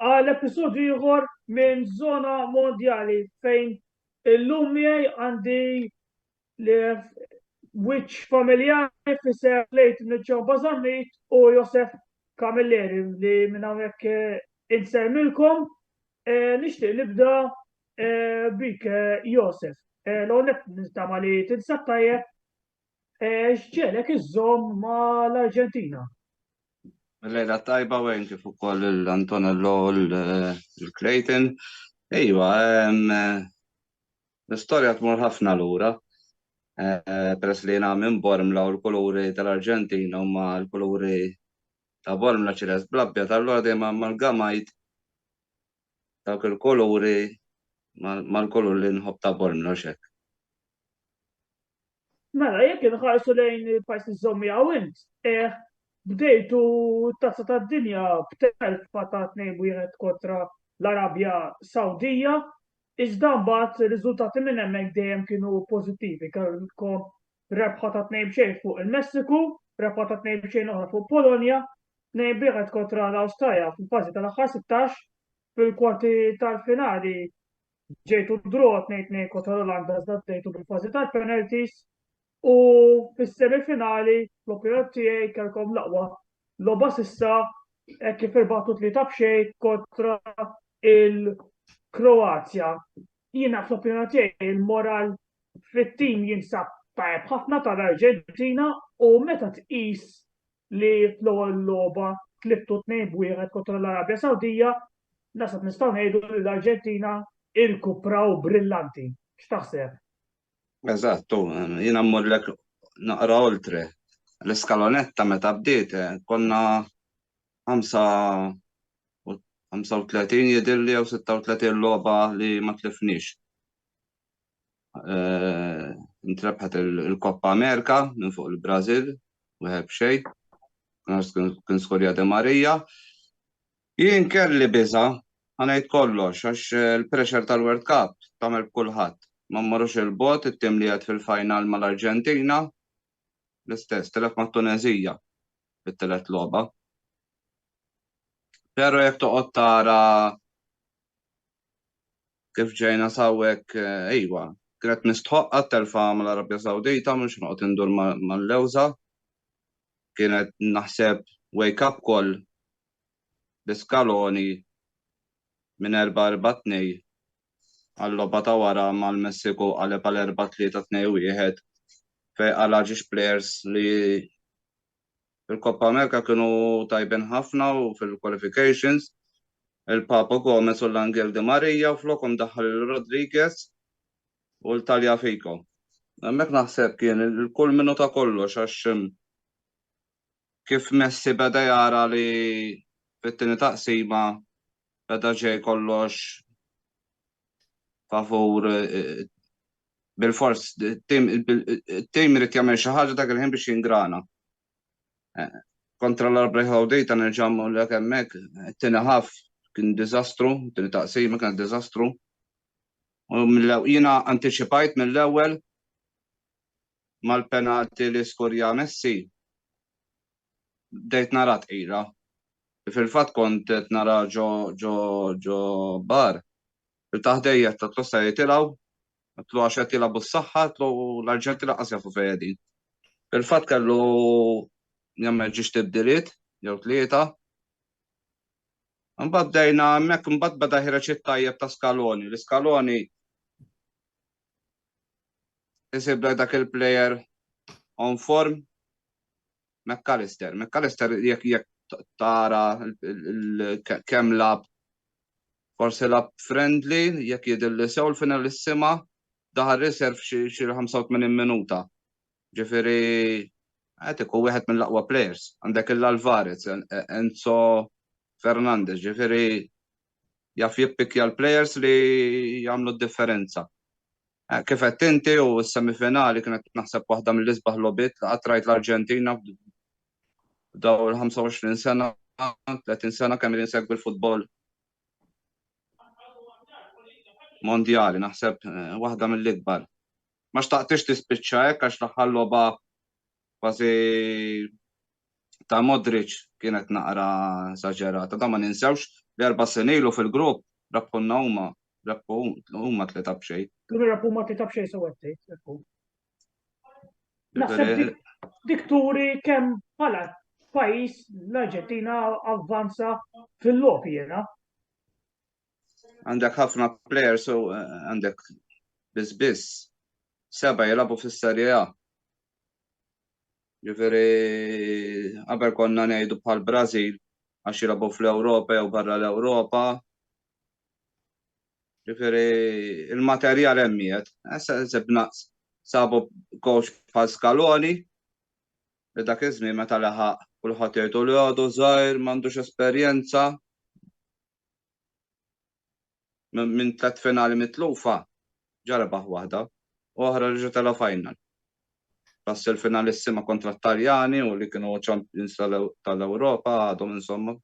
għal episodju ieħor minn Zona Mondjali fejn illum miegħi għandi li wiċċ familjari fisser lejt Nġon Bazarmit u Josef Kamilleri li minn hawnhekk eh, insemmilkom eh, nixtieq nibda eh, bik Josef. L-għonet nistama li tinsab tajjeb X'ġegħlek iżżomm ma' l-Arġentina? Lejla tajba Wayne kif ukoll lil Antonello u lil Clayton. Iva, l-istorja tmur ħafna lura. Peress li jiena minn Bormla u l-kuluri tal-Arġentina huma l-kuluri ta' Bormla ċilest bl-abjad, allura dejjem amalgamajt dawk il-kuluri mal-kulur li nħobb ta' Bormla u x'hekk. Mela, jekk inħarsu lejn il-pajjiż li żżomm miegħu int, eh, bdejtu t-tazza tad-dinja b'telfa ta' tnejn wieħed kontra l-Arabja Sawdija, iżda mbagħad ir-riżultati minn hemmhekk dejjem kienu pożittivi, kellkom rebħa ta' tnejn b'xejn fuq il-Messiku, rebħa ta' tnejn b'xejn oħra fuq Polonja, tnejn b'wieħed kontra l-Awstralja fil-fażi tal-aħħar 16, fil-kwarti tal-finali ġejtu draw 2-2 kontra l-Olanda iżda ġejtu bil-fażi tal-penalties u fis-semifinali l-opinjoni tiegħi kellkom laqwa logħba sissa e kif irbatu tlieta b'xejn kontra il-Kroazja. Jiena fl-opinjoni tiegħi l-moral fit-tim jinsab tajjeb ħafna tal-Arġentina u meta tqis li fl-ewwel logħba tliftu tnejn b'wieħed kontra l-Arabja Sawdija, naħseb nistgħu ngħidu li l-Arġentina irkupraw brillanti. X'taħseb? Eżatt, jiena mmurlek naqra oltre. L-iskalonetta meta bdiet konna 35 jidhirli jew 36 logħba li ma tlifniex. Eh, Intrebħet il-Koppa Amerika minn fuq il-Brażil, wieħed b'xejn. Kien skorja de Marija. Jien kelli biża, ħanajt kollox, għax eh, il-pressure tal-World Cup tagħmel b'kulħadd. Ma mmorrux il-bot, it-tim li għed fil-final mal-Arġentina, l-istess, tilef mat-Tuneżija fit-tielet logħba. Però jekk toqgħod tara kif ġejna sawwek ejwa, eh, kienet mistħoqqa telfa mal-Arabja Sawdita mhux noqgħod indur mal-lewża. Kienet naħseb wake up call l-iskaloni minn 4-4-2 għal-logħba ta' wara mal-Messiku qaleb għal erba' tlieta tnejn wieħed fejn qala' ġiex plejers li fil-Coppa America kienu tajbin ħafna u fil-qualifications il-Papo Gomez u l-Angel Di Maria u flokhom daħħal lil Rodriguez u l-Tagliafico. Hemmhekk naħseb kien il-kulminu ta' kollox għax kif Messi beda jara li fit-tieni taqsima beda ġej kollox favur bil-fors it-tim irid jagħmel xi ħaġa dak il-ħin biex jingrana. Kontra l-Arbrej Ħawdita nerġa' l hemmhekk, it-tieni ħaf kien diżastru, it-tieni taqsima kien diżastru. Jiena antiċipajt mill-ewwel mal-penalty li skurja Messi bdejt nara tqira. Fil-fatt kont qed nara ġo ġo ġo bar. Il-taħ dejjet tatlu se jitilgħu, tlu għax qed jilagħbu s-saħħa, tlu l-Arġenti laqqas jafu fejn qegħdin. Fil-fatt kellu jagħmel ġiex tibdiliet jew tlieta. Imbagħad bdejna hemmhekk imbagħad beda ħireġ it-tajjeb ta' Scaloni. L-Scaloni isibla dak il-plejer on form McAllister. McAllister jekk jekk tara kemm lab forsi lab friendly jekk jidilli sew l-final is-sima daħal riserv xi 85 minuta. Ġifieri qed ikun wieħed mill-aqwa players. Għandek il-Alvarez, Enzo Fernandez, ġifieri jaf jippikja l-plejers li jagħmlu d-differenza. Eh, kif qed inti u s-semifinali kienet naħseb waħda mill-isbaħ lobit li qatt rajt l-Arġentina f'daw il-25 sena, 30 sena kemm insegwi l-futbol mondjali, naħseb eh, waħda mill-ikbar. Ma xtaqtix tispiċċa hekk għax l-aħħar logħba Kważi ta' Modric kienet naqra esaġerata. Da ma ninsewx li erba' snin ilu fil-grupp rabbħulna huma, rabbħu huma tlieta b'xejn. Kienu rabbħu huma tlieta b'xejn sew qed tgħid, rabbħu. Naħseb dik turi kemm bħala pajjiż l-Arġentina avvanza fil-logħbi jiena. Għandek ħafna players u eh, għandek biss biss seba' jilagħbu fis-Serje A. Ġifieri qabel konna ngħidu bħal Brażil għax jilagħbu fl-Ewropa jew barra l-Ewropa. Ġifieri il-materjal hemm qiegħed. Issa sibna sabu coach bħal Scaloni li dak iż-żmien meta laħaq kulħadd jgħidu li għadu żgħir m'għandux esperjenza. Minn tliet finali mitlufa, ġa rebaħ waħda, u oħra reġa' tela' final. Ras il-finalissima kontra t-Taljani u li kienu champions tal-Ewropa għadhom insomma,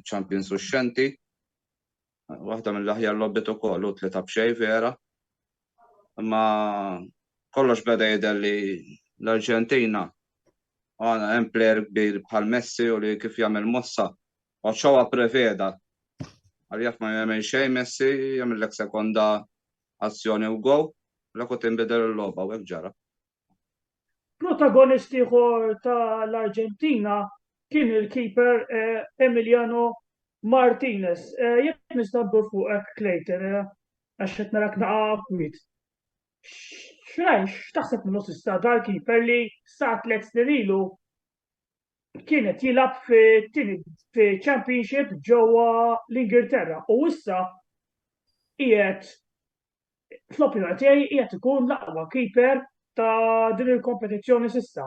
champions uxxenti. Waħda mill-aħjar logħbiet ukoll u tlieta b'xejn vera. Imma kollox beda jidher li l-Arġentina għandha hemm plejer kbir bħal Messi u li kif jagħmel mossa Ochoa preveda għal jaf ma jagħmel xejn Messi jagħmillek sekonda azzjoni u gow, la kont inbidel il-logħba u hekk ġara. Protagonist ieħor tal-Arġentina kien il-keeper eh, Emiliano Martinez. Eh, jekk nista' ndur fuqek Clayton, eh, għax qed narak naqa' kwit. X'rajx, x'taħseb minnu sista dal-keeper li sa tliet snin ilu kien qed jilgħab fit-tieni championship ġewwa l-Ingilterra u issa qiegħed fl-opinjoni tiegħi qiegħed ikun l-aqwa keeper ta' din il-kompetizzjoni s'issa.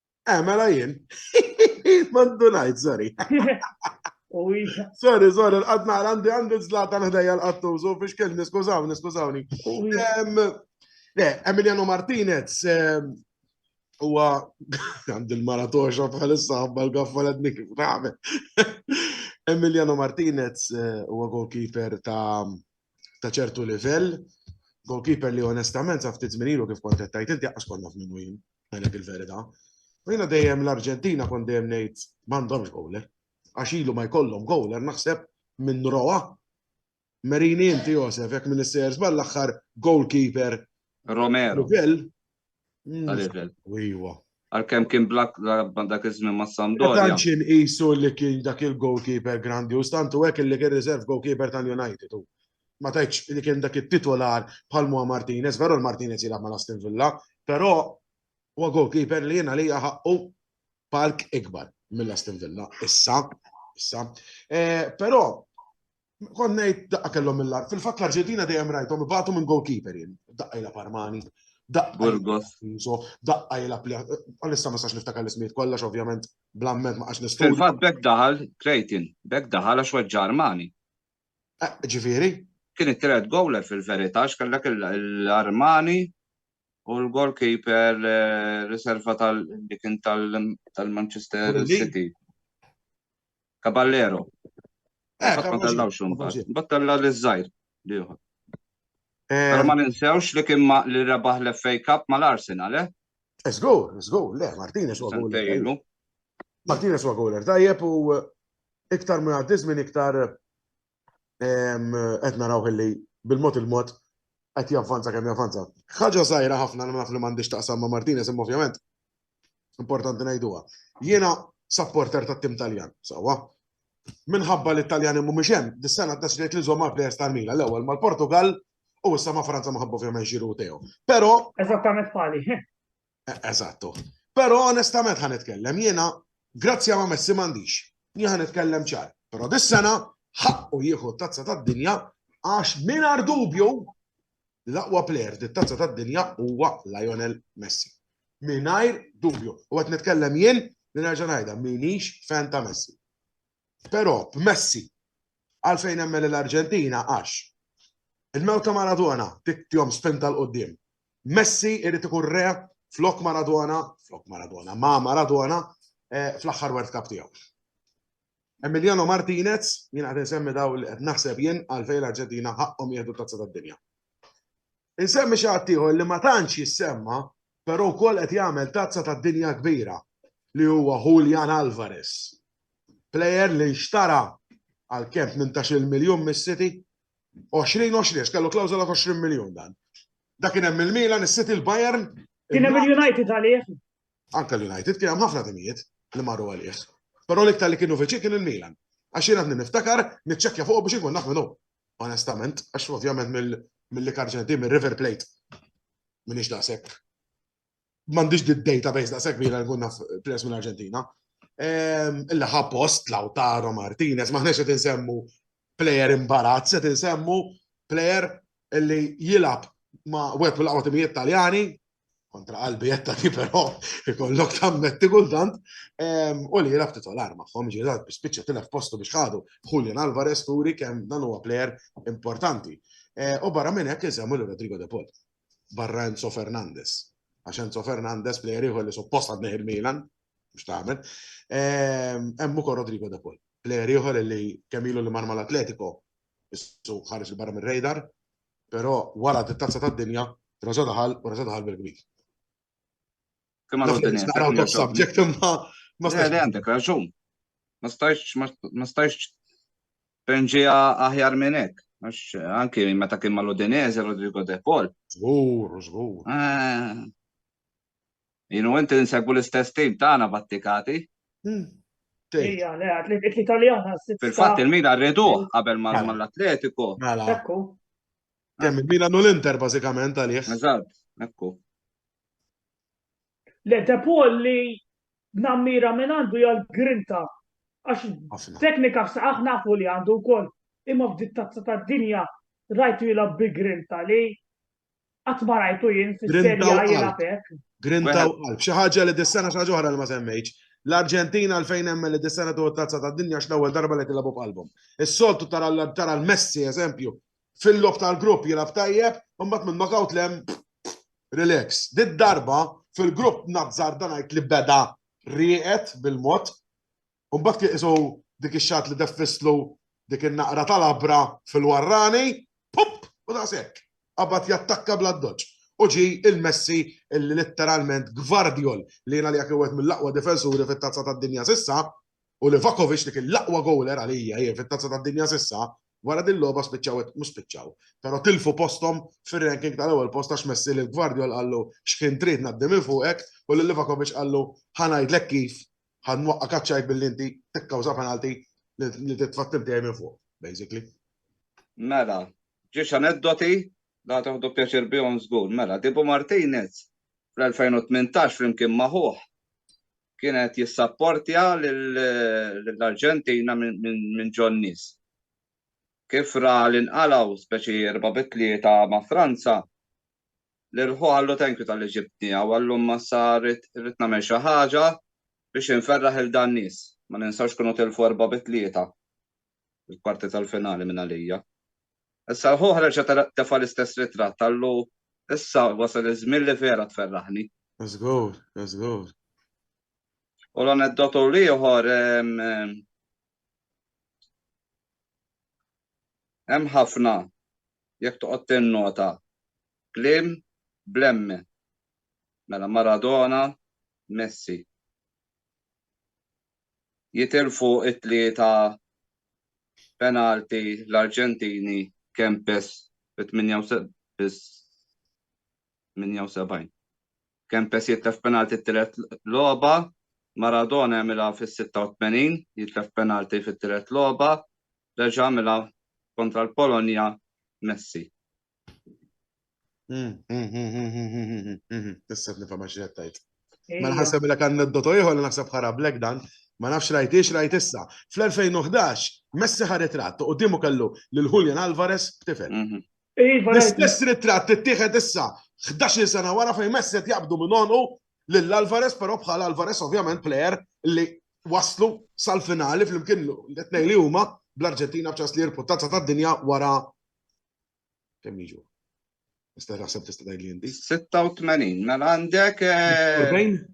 Eh, mela jien. Mandu najt, sorry. Sorry, sorry, l-qad naqra għandi għandi zlata l-ħdejja l-qattu, so fiex kelli, niskużawni, niskużawni. Le, Emiliano Martinez, huwa għand il-maratoxa bħalissa għabba l-gaffa l-ednik raħme. Emiliano Martinez eh, huwa goalkeeper ta' ta' ċertu livell, goalkeeper li onestament sa' ftit minilu kif kontettajt inti għas konna f'minu jien. Għalek il-verita. U jina dejjem l-Arġentina kon dejjem nejt mandomx gowler. Għax ilu ma jkollhom gowler naħseb minn roa. Merini inti Josef, jek minn s-sejers ball-axħar goalkeeper. Romero. Level. Level. Iwa. Għal-kem kien blak dak iż-żmien ma' Sampdoria. Tanċin isu li kien dak il-goalkeeper grandi u stantu hekk li kien reserve goalkeeper tal-United. ma tajtx li kien dak it-titolar bħal Mua Martinez, veru l-Martinez jilgħab ma' Aston Villa, però huwa goalkeeper li jiena li ħaqqu palk ikbar mill-Aston Villa. Issa, issa. Eh, però konnejt daqqa kellhom mill-ar. Fil-fatt l-Arġentina dejjem rajthom ibatu minn goalkeeper jien, daqqa jilgħab Armani. Burgos. Daqqa jilab li. Għalissa ma sax niftakar l-ismiet kollax, ovvjament, blammet ma għax nistil. Fil-fat bek daħal, Krejtin, bek daħal għax weġġa Armani. Ġifieri? Kien it-tielet gowler fil-verità għax kellek l-Armani u l-goalkeeper eh, riserva tal kien tal-Manchester City. Caballero. Eh, ma tellaw xumbat. Battella li zzajr liħor. Eh, Pero ma ninsewx li kien li rebaħ l-FA Cup ma l-Arsenal, eh? Zgur, eh, zgur, le, Martinez u għagħu. Martinez u għagħu, tajjeb u iktar ma għaddiz minn iktar qed naraw li bil-mod il-mod qed javvanza kemm javvanza. Ħaġa żgħira ħafna li naf li m'għandix taqsam ma' Martinez imma ovvjament importanti ngħiduha. Jiena supporter tat-tim Taljan, sewwa. Minħabba li t-Taljani mhumiex hemm, dis-sena ddeċidejt li żomm għal plejers tal-Mila l-ewwel mal-Portugal U issa ma' Franza ma ħabbu fjament ġiru tew. Pero. Eżattament pali. E, eżattu. Pero onestament ħan itkellem jiena, grazzja ma' Messi m'għandix. Jien ħan itkellem ċar. Pero dis-sena ħaqqu jieħu tazza tad-dinja għax mingħajr dubju l-aqwa player dit-tazza tad-dinja huwa Lionel Messi. Mingħajr dubju. U qed nitkellem jien li nerġa' ngħidha minix fan ta' Messi. Però b'Messi. Għalfejn nemmen li l-Arġentina għax il-mewt ta' Maradona tihom spinta 'l quddiem. Messi irid ikun re flok Maradona, flok Maradona, ma' Maradona fl-aħħar World Cup tiegħu. Emiliano Martinez, jien qed insemmi dawn li qed naħseb jien għalfejn l-Arġentina ħaqqhom jieħdu t-Tazza tad-Dinja. Insemmi xi ħaddieħor li ma tantx jissemma però wkoll qed jagħmel tazza tad-dinja kbira li huwa Julian Alvarez. Plejer li nxtara għal kemm tmintax-il miljun mis-City? Għoxrin, għoxrin, għax kellu klawżola ta' għoxrin miljun dan. Dak kien hemm il-Milan, is-City, l-Bayern. Kien hemm il-United għalih. Anke l-United, kien hemm ħafna timijiet li marru għalih. Però l-iktar li kienu viċin kien il-Milan. Għax jien għadni niftakar, niċċekkja fuqu biex inkun naf min hu. onestament, għax ovvjament mill-li karġen di, mill-River Plate, minix daqsek. Mandiġ di database daqsek bila nkun naf players mill-Arġentina. Ehm, illa ħa post Lautaro Martinez, maħnex qed insemmu player imbarazz, qed insemmu player illi jilab ma' web mill-qawwa timijiet Taljani, kontra qalbi jetta ti però ikollok tammetti kultant ehm, u li jilab titolar maħħom ġirat bispiċċa tilef postu biex ħadu Julian Alvarez turi kemm dan huwa plejer importanti. Eh, u barra minn hekk insemmu l Rodrigo De Paul, barra Enzo Fernandez. Għax Enzo Fernandez plejer ieħor li suppost għadneħ il-Milan, biex taħmel, ehm, hemm ukoll Rodrigo De Paul. Plejer ieħor li kemm ilu li marma l-Atletico, issu ħares il-barra mir-radar, Però wara t-Tazza tad-Dinja, Rosa daħal u Rosa daħal bil-kbir. Kemm għal dinja. Naqraw top subject imma ma stajx. Għandek raġun. Ma stajx ma stajx penġi aħjar minn hekk. Anki meta kien mal-Udinese Rodrigo De Paul. Żgur, żgur. Eh, Jien u inti nsegwu l-istess tim tagħna battikati. Hmm. Ija, le, atletik italjana. Fil-fatt il-Milan rriduh qabel ma mela. l-Atletiku. Mela. Ekku. Kemm il-Milan u l-Inter bażikament għalih. Eżatt, ekku. Le, De Paul li nammira minn għandu jgħal grinta. Għax teknika f'saqaħ nafu li għandu wkoll imma f'dittazza tad-dinja rajtu jilgħab bi grinta li Qatt ma rajtu jien fis-serja jilgħab hekk. Grinta u qalb. Xi ħaġa li dis-sena xi ħaġa oħra li ma semmejtx. L-Arġentina għalfejn hemm li dis-sena tuħu tazza tad-dinja għax l-ewwel darba li tilgħabu b'qalbhom. Is-soltu tara l-Messi eżempju fil-lob tal-grupp jilgħab tajjeb, imbagħad minn knockout lem relax. Did-darba fil-grupp nazzar dan għid li beda rieqet bil-mod u mbagħad kien isu dik ix-xatt li deffislu dik in-naqra tal-abra fil-warrani, pup, u daqshekk. Qabad jattakka bla doċ. U ġi il-Messi illi litteralment Gvardiol li jiena li jekk wieħed mill-aqwa difensuri fit-tazza tad-dinja sissa, u li Vakovic li kien l-aqwa gowler għalija jien fit-tazza tad-dinja sissa, wara din logħba spiċċaw mhux spiċċaw. Però tilfu posthom fir-ranking tal-ewwel post għax Messi li Gvardiol qallu x'ħin trid ngħaddi minn fuqek u lil Vakovic qallu ħa ngħidlek kif Ħa nwaqqa kaċċajk billi inti tikkawża penalty li titfattib dejjem minn fuq, basically. Mela, ġiex aneddoti la taħdu pjaċir bihom żgur. Mela, Dibu Martinez fl-2018 flimkien maħuħ kienet jissapportja l-Arġentina minn John Nis. Kif ra l-inqalaw speċi erba bitlieta ma' Franza, L-irħu qallu thank you talli ġibtni hawn għall-lum massa rrid rrid nagħmel xi ħaġa biex inferraħ lil dan nies. Ma ninsewx kienu tilfu erba' bi tlieta fil-kwarti tal-finali minn għalija. Issa l-ħu ħreġ tefa' l-istess ritratt qallu issa wasal iż-żmien li vera tferraħni. Żgur, żgur. U l-aneddotu l-ieħor hemm ħafna jekk toqgħod tinnota kliem bl-M, mela Maradona, Messi. Jitilfu t-tlieta penalti l-Arġentini Kempes fit-78. Kempes jitlef penalti t-tielet logħba, Maradona jagħmilha fis-86, jitlef penalti fit-tielet logħba, reġa' għamilha kontra l-Polonja Messi. Hmm, hmm, hmm, Tissef nifhem għax qed tgħid. Ma nħasseb li kan niddotu ieħor li naħseb ħara blek dan, ma nafx rajtix rajt issa. Fl-2011 Messi ħaret rat u dimu kellu lil Julian Alvarez b'tifel. Mhm. Iva, L-istess ritratt ittieħed issa 11 sena wara fejn Messi qed jaqbdu minn onqu lil Alvarez però bħal Alvarez ovvjament plejer li waslu sal-finali flimkien l-tnejn li huma bl-Arġentina b'ċans li jirpu tazza tad-dinja wara kemm jiġu. Nista' naħseb tista' tgħid li inti. 86 mela għandek. 40? Eh,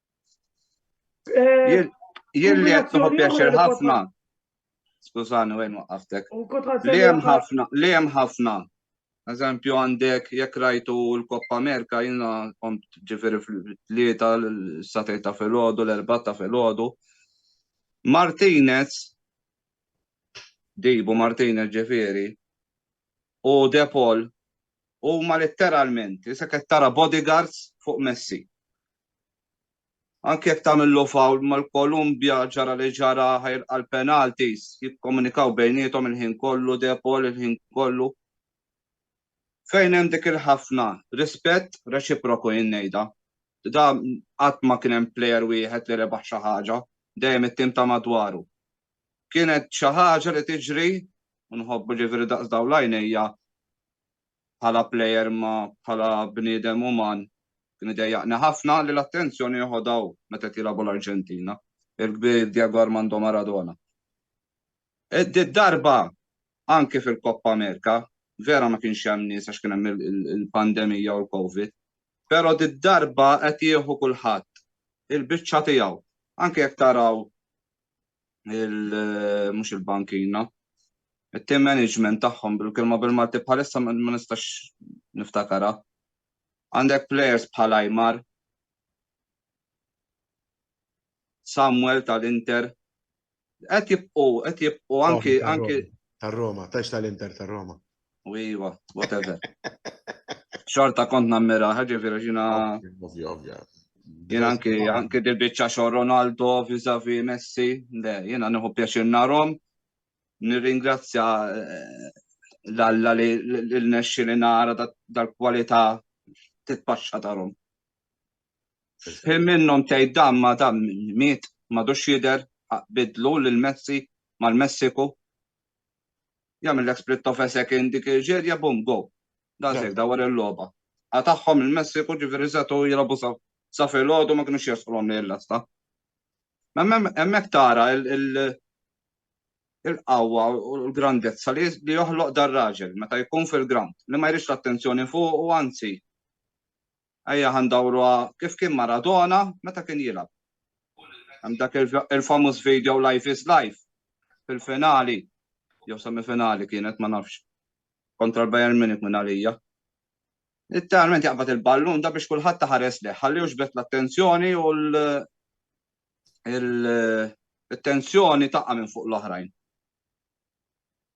Eh, jien li qed noħu pjaċir ħafna. Skużani wejn waqaftek. Li hemm ħafna, li hemm ħafna. Eżempju għandek jekk rajtu l-Koppa Amerika jiena kont ġifieri fl-tlieta l-satej ta' filgħodu, l-erba' ta' filgħodu. Martinez Dibu Martinez ġifieri u Depol huma letteralment, issa qed tara bodyguards fuq Messi. Anke jekk tagħmillu foul mal-Kolumbja ġara li ġara ħajr għal penalties, jikkomunikaw bejniethom il-ħin kollu De Paul il-ħin kollu. Fejn hemm dik il-ħafna rispett reċiproku jien ngħidha. Da qatt ma kien hemm player wieħed li rebaħ xi ħaġa, dejjem it-tim ta' madwaru. Kienet xi ħaġa li tiġri, u nħobbu ġifieri daqs dawn l-għajnejja, bħala plejer imma bħala bniedem uman kien idejjaqni ħafna li l-attenzjoni jeħodha hu meta qed jilagħbu l-Arġentina, il-kbir Diego Armando Maradona. Did-darba anke fil-Coppa America, vera ma kienx hemm nies għax kien hemm il-pandemija u l-Covid, però did-darba qed jieħu kulħadd il-biċċa tiegħu. Anke jekk taraw mhux il-bankina. It-team management tagħhom bil-kelma bil-Malti bħalissa ma nistax niftakara. Għandek players bħal Ajmar, Samuel tal-Inter, qed jibqgħu, qed jibqgħu anki anki tar-Roma, tax tal-Inter tar-Roma. U iva, whatever. Xorta kont nammira, ħagġi vera ġina. Ovvja, ovvja. Jena anki, anki dil-bicċa xor Ronaldo, vizavi Messi, le, jena nħu pjaċir narom. Nirringrazzja eh, l-alla li l-nexxi li nara dal-kwalità titpaxxa tarom. Fim minnom tgħid dam ma dam miet madux jidher bidlu lil Messi mal-Messiku. Jagħmillek split of a second dik il-ġerja bum go. Dan se jibda wara l-logħba. Qatagħhom il-Messiku ġifieri setgħu jilgħabu sa sa filgħodu ma kinux jersqulhom lejn l-asta. Hemmhekk tara il-qawwa u l-grandezza li joħloq dar-raġel meta jkun fil-ground li ma jridx l-attenzjoni fuq u anzi Ejja ħa ndawruha kif kien Maradona meta kien jilgħab. Hemm dak il-famuż video Life is Life fil-finali jew semifinali kienet ma nafx kontra l-Bayern Munich minn għalija. Literalment jaqbad il-ballun da biex kulħadd taħares leħ, ħalli uġbet l-attenzjoni u l-tensjoni taqqa' minn fuq l-oħrajn.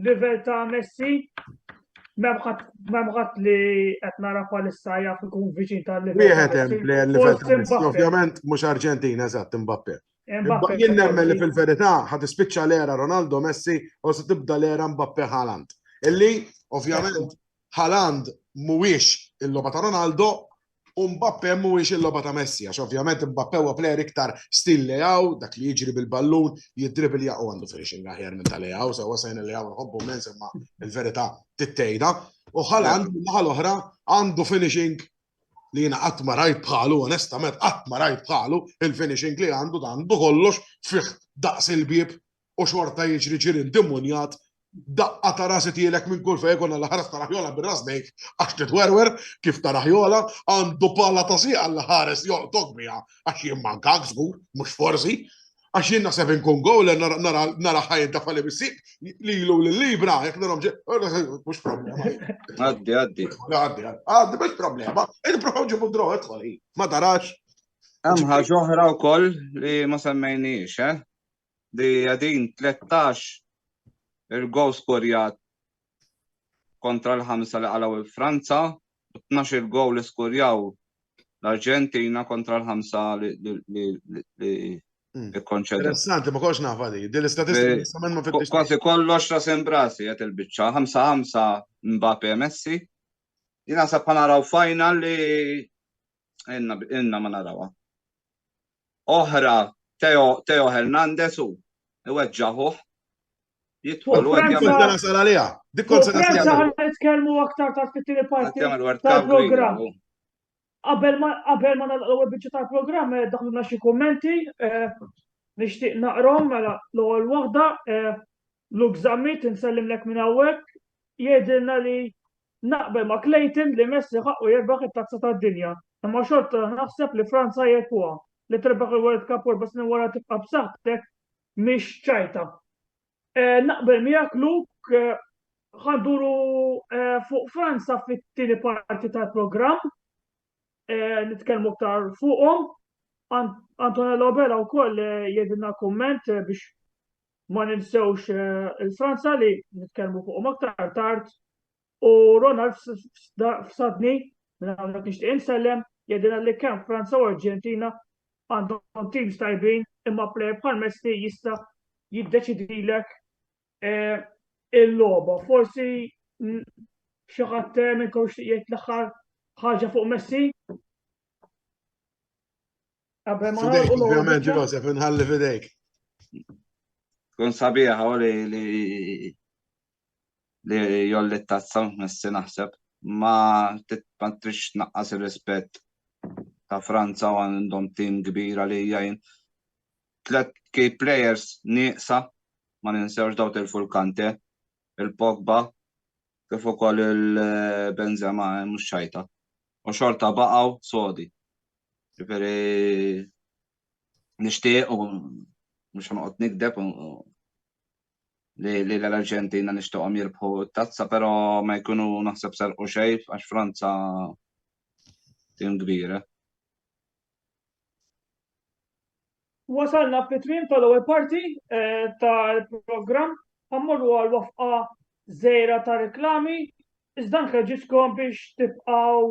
Livell ta' Messi memħat li qed nara palissa jaf ikun viċin tal-livell. Wieħed hemm li l-livell ta' Messi, ovvjament mhux Arġentina eżatt Mbappe. Jien nemmen li fil-verità ħad ispiċċa l-era Ronaldo Messi u se tibda l-era Mbappe Haaland. Illi ovvjament Haaland mhuwiex il-logħba ta' Ronaldo, U Mbappe mhuwiex il-logħba ta' Messi, għax ovvjament Mbappe huwa plejer iktar stil Leao, dak li jiġri bil-ballun, jiddribilja u għandu finishing aħjar minn ta' Leao, sewwa sejna Leao nħobbu immens imma l-verità tittejda. U Haaland min-naħa l-oħra għandu finishing li jiena qatt ma rajt bħalu, onestament qatt ma rajt bħalu, il-finishing li għandu għandu kollox fih daqs il-bieb u xorta jiġri ġirien demonjat, daqqa ta' ras itielek minn kull fejn ikun għall-ħares ta' Raħjola bir-ras bejk għax titwerwer kif ta' Raħjola, għandu pala ta' sieq għall-ħares jolqtok biha għax jien mankak żgur, mhux forsi, għax jien naħseb inkun gowler nara ħajn ta' fali bis-sieq li ilu l-libra jekk narhom ġe, mhux problema. Għaddi, għaddi. Għaddi, għaddi, mhux problema. Ejn provaw ġibu draw idħol ma tarax. Hemm ħaġa oħra wkoll li ma semmejniex, eh? li qegħdin 13 il-goal skorjat kontra l-ħamsa li qalgħu l-Franza u 12 il-goal li skorjaw l-Arġentina kontra l-ħamsa li Mm. ikkonċedu. Interessanti, ma konx nafa li, din l-istatistika jistament ma fittix. Kważi kollox ta' sembrasi għet il-bicċa, 5-5 Mbappe Messi. Jina sa' panaraw final li Inna, inna ma narawa. Oħra, Teo, Teo Hernandez u iweġġaħuħ. Jitħol u għedja. Kont għana sala liha. Dik kont sala liha. Franza għan nitkellmu aktar ta' fit-tini parti tal-program. Qabel ma qabel ma nagħlqu biċċa tal-programm eh, daħluna xi kummenti eh, nixtieq naqrom mela l-ewwel waħda eh, Luke Zammit, insellimlek minn hawnhekk, jgħidilna li naqbel ma' Clayton li Messi ħaqqu jirbaħ it-Tazza tad-Dinja, imma xorta naħseb li Franza hi ekwha. Li tirbaħ il-World Cup u erba' snin wara tibqa' b'saħħtek mhix ċajta. Naqbel miegħek Luke, ħa nduru fuq Franza fit-tieni parti tal-programm, nitkellmu aktar fuqhom. Antonello Vella wkoll jgħidilna kumment biex ma ninsewx il-Franza li nitkellmu fuqhom aktar tard u Ronald f'sadni minn hawnhekk nixtieq insellem jedina li kemm Franza u Arġentina għandhom teams tajbin imma plejer bħal Messi jista' jiddeċidilek eh, il-logħba. Forsi xi ħadd eh, minn jgħid l-aħħar ħaġa fuq Messi? Qabel ma nagħlqu l-ewwel Joseph inħalli f'idejk. Kun sabiħa u li li li jolli t-tazza messi naħseb ma titpatrix naqqas ir-rispett ta' Franza u għandhom tim kbir għalija jien. Tlet key players nieqsa ma ninsewx daw tilfu l-Kante, il-Pogba, kif ukoll il-Benzema eh, mhux xajta. U xorta baqgħu sodi. Ġifieri nixtieq u mhux ħanoqgħod nikdeb li l-Arġentina nixtieqhom jirbħu t-tazza, però ma jkunu naħseb sarqu xejf għax Franza tim kbira. Wasalna fit-tmiem tal-ewwel parti eh, tal-programm ħammorru għal wafqa żejra ta' reklami, iżda nħeġġiskom biex tibqgħu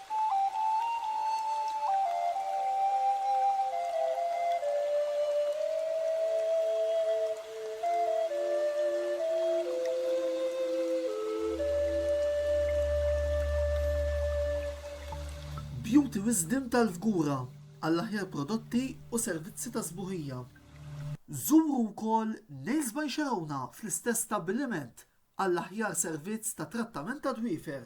Beauty Wisdom tal-Fgura għall-aħjar prodotti u servizzi ta' sbuħija. Żuru wkoll Nails by Xerowna fl-istess stabbiliment għall-aħjar servizz ta' trattament tad-dwiefer.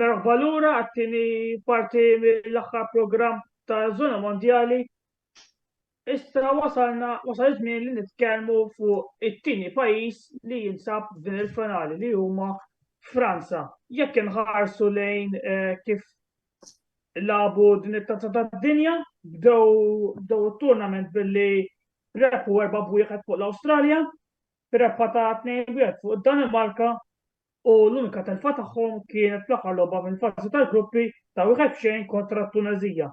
Merħba lura għat-tieni parti mill-aħħar programm ta' Zona Mondjali. Issa wasalna wasal żmien li nitkellmu fuq it-tieni pajjiż li jinsab din il-finali li huma Franza. Jekk inħarsu lejn eh, kif labu din it-tazza tad-dinja, bdew bdew it-tournament billi repu erba' bwieħed fuq l-Awstralja, b'rebħa ta' 2-1 fuq id-Danimarka u l-unika telfa tagħhom kienet fl-aħħar logħba mill-fażi tal-gruppi ta' wieħed f'xejn kontra t-Tuneżija.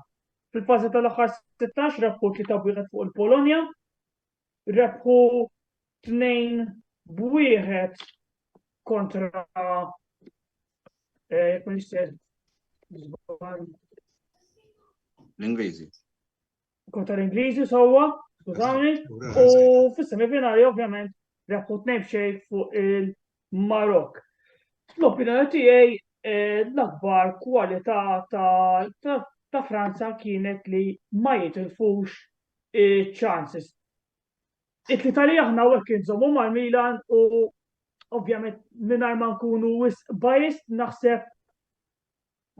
Fil-fażi tal-aħħar 16 rebħu 3-1 fuq il-Polonja, rebħu 2-1 kontra eh, l-Ingliżi. kontra l-Ingliżi sewwa, skużawni, u fis-semifinali ovvjament rebħu tnejn b'xejn fuq il-Marok. L-opinjoni tiegħi eh, l-akbar kwalità ta' Franza kienet li ma jitilfux chances. It-tali aħna u kien żommu mal-Milan u ovvjament minar ma nkunu wis bajist naħseb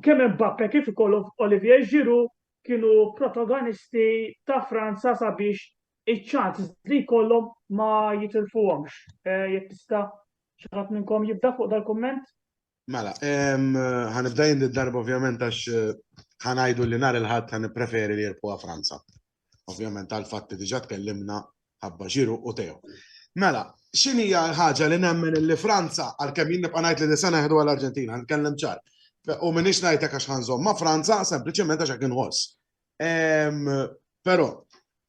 Kemm Mbappe kif ukoll Olivier Giroud kienu protagonisti ta' Franza sabiex iċ-chances li jkollhom ma jitilfuhomx. Jekk tista' xi ħadd minnkom jibda fuq dal-kumment? Mela, ħanibda jien darba ovvjament għax ħa ngħidu li nhar il-Ħadd ħa nippreferi li jirbħuha Franza. Ovvjament tal-fatt li diġà tkellimna ħabba ġiru u tew. Mela, x'in hija l-ħaġa li nemmen li Franza għalkemm jien nibqa' ngħid li disa neħdu għal Arġentina, nkellem ċar. U minix ngħidlek għax ħanżomm ma' Franza sempliċement għax hekk inħoss. Ehm, però,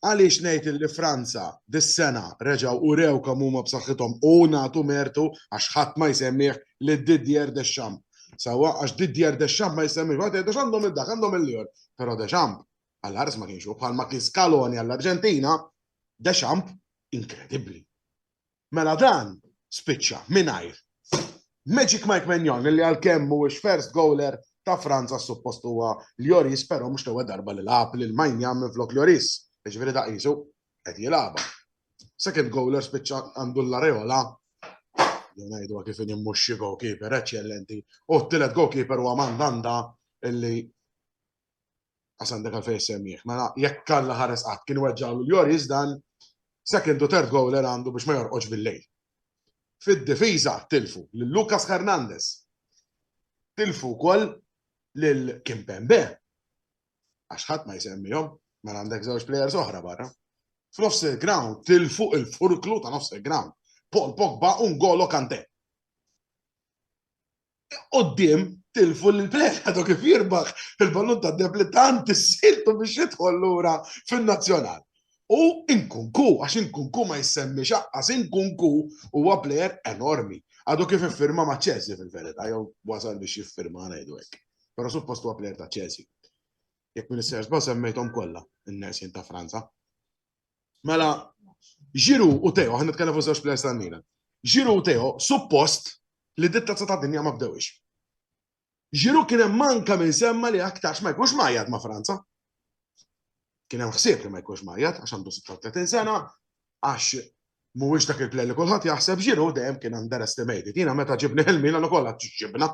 għaliex ngħid li Franza dis-sena reġgħu u rew kemm huma b'saħħithom u nagħtu mertu għax ħadd ma jsemmih li Didier Deschamps. Sawa għax Didier Deschamps ma jsemmih, għad Deschamps għandhom id-dak, għandhom il-lior, però Deschamps Għall-Ars ma kienx hu, bħalma kien Scaloni għall-Arġentina, Deschamps inkredibbli. Mela dan spiċċa mingħajr Magic Mike Menjon li għalkemm mhuwiex first goaler ta' Franza suppost huwa Lloris, però mhux l-ewwel darba li lagħab lil Mainja minn flok Lloris, jiġifieri ta' qisu qed jilagħba. Second goaler spiċċa għandu l-areola ngħidu kif mhux xi goalkeeper eċċellenti, u t-tielet goalkeeper huwa Mandanda illi Għas għandek għalfej semmiħ. Mela, jekk kalla ħares qatt kien weġġalu l-Joris dan second u third goaler għandu biex ma jorqoġ bil-lejl. Fid-difiża tilfu lil Lucas Hernandez. Tilfu wkoll lil Kim Pembe. Għax ħadd ma jsemmihom, mela għandek żewġ players oħra barra. F'nofs il-ground tilfu il-furklu ta' nofs il-ground. Paul Pogba un golo kante. Qoddim tilfu l-plek għadu kif jirbaħ il-ballun ta' deb li tant issiltu biex jidħol lura fin-nazzjonal. U inkunku, għax inkunku ma jissemmi xaqqas, inkunku huwa plejer enormi. Għadu kif iffirma ma' ċezi fil-verita, jew wasal biex jiffirma ngħidu hekk. Però suppost huwa plejer ta' ċezi. Jekk minn is-sers ba' semmejthom kollha n-nersin ta' Franza. Mela, ġiru u Teo, ħan nitkellem fuq żewġ plejers ta' Milan. Ġiru u Teo, suppost li ditta tazza ta' dinja ma bdewix. Ġiru kien hemm manka minn semma li aktarx ma jkunx majjat ma' Franza. Kien hemm ħsieb li ma jkunx majjat għax għandu 36 sena, għax mhuwiex dak il-play li kulħadd jaħseb ġiru dejjem kien underestimated. Jiena meta ġibni ħelmina ukoll ġibna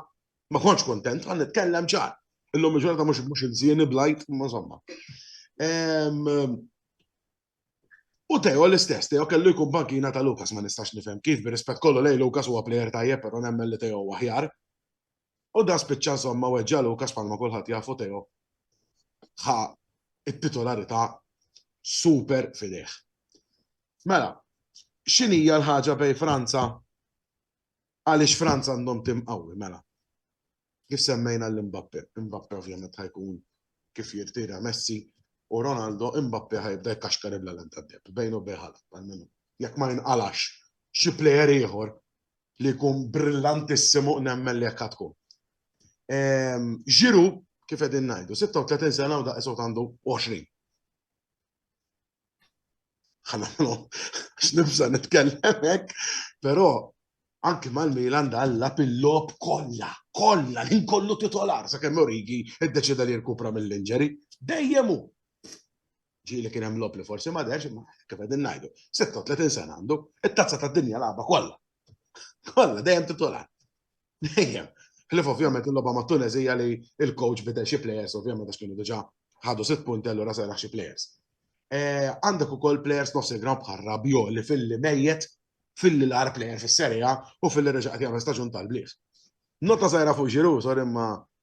Ma kontx kontent, għan nitkellem ċar. Illum il-ġurnata mhux mhux insieni blajt, ma insomma. U Teo l-istess, Teo kellu jkun bankina ta' Lukas, ma nistax nifhem kif, bir-rispett kollu lej Lukas huwa plejer tajjeb, però nemmen li Teo huwa ħjar. U da spiċċa insomma weġġa Lukas palma kulħadd jafu Teo ħa it-titolarità super fideh. Mela, x'inhija l-ħaġa bej Franza Għaliex Franza għandhom tim qawwi, mela? Kif semmejna lil Mbappe, Mbappe ovvjament ħa jkun kif jirtira Messi u Ronaldo, Mbappe ħa jibda jkaxkar il-għalem tad-deheb, bejn u bejn Haaland, almenu jekk ma jinqalax xi plejer ieħor li jkun brillantissimu nemmen li hekk ħa tkun. Giroud, kif qegħdin ngħidu, 36 sena u daqshekk għandu 20. Ħanamlu, x'nibża nitkellem hekk, però anki mal-Milan dalla pil-lob kollha, kollha, l kollu titolar, sa' kemm Origi id-deċida li jirkupra mill-inġeri, dejjem hu. Ġili kien hemm lob li forsi ma derx, ma kif qegħdin ngħidu, 36 sena għandu, it-tazza tad-dinja lagħba kollha. Kollha dejjem titolar. Ejja, ħlif ovvjament il-logħba ma' Tunes hija li il-coach bidel xi players ovvjament għax kienu diġà ħadu sitt punti allura seraħ xi players. Eh, għandek ukoll players nofs il-ground bħal Rabio li fil-li mejjet fil-li l-ar player fis-serja u fil-li reġa' qed jagħmel staġun tal-bliet. Nota żgħira fuq ġiru, sorry ma